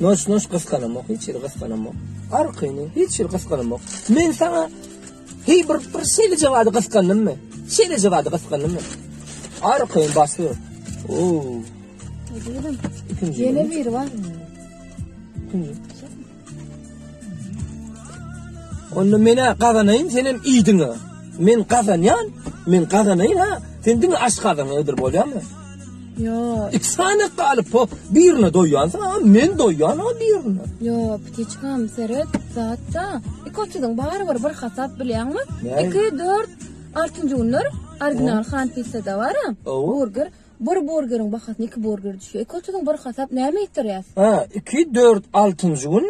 Noş noş gysganamok, hiç ýeri gysganamok. Arkyny hiç ýeri gysganamok. Men saňa heý bir bir şeýle jogady gysgandymmy? Şeýle jogady gysgandymmy? Arkyny basy. Oo. Ýene bir bar. Kim? Onda menä gazanaýyn, sen hem iýdiňe. Men gazanýan, men gazanaýyn ha. Sen diňe aç gazaň ödür bolýamy? Yo. İki sany galyp o birine doýýansa, men doýýan o birine. Yo, pitiçkam seret, zatda. İki otuzun bari bir bir hasap bilýäňmi? İki, dört, altıncı günler original han pizza da var ha. Burger. Bir burgeriň bahasyna iki burger düşýär. Iki otuzyň bir hasap näme ýetirýär? Hä, iki, dört, altynjy gün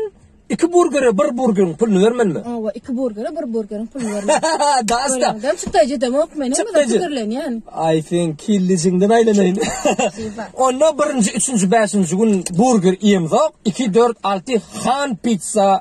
iki burgere bir burgeriň puluny bermelimi? Hawa, iki burgere bir burgeriň puluny bermeli. Dasta. Adam çykdaýjy demok meni bu Çykdaýjy. pikirlenýän. Ay sen killijiňden aýlanaýyn. Onda birinji, üçünji, bäşinji gün burger iýemzok. Iki, dört, alty han pizza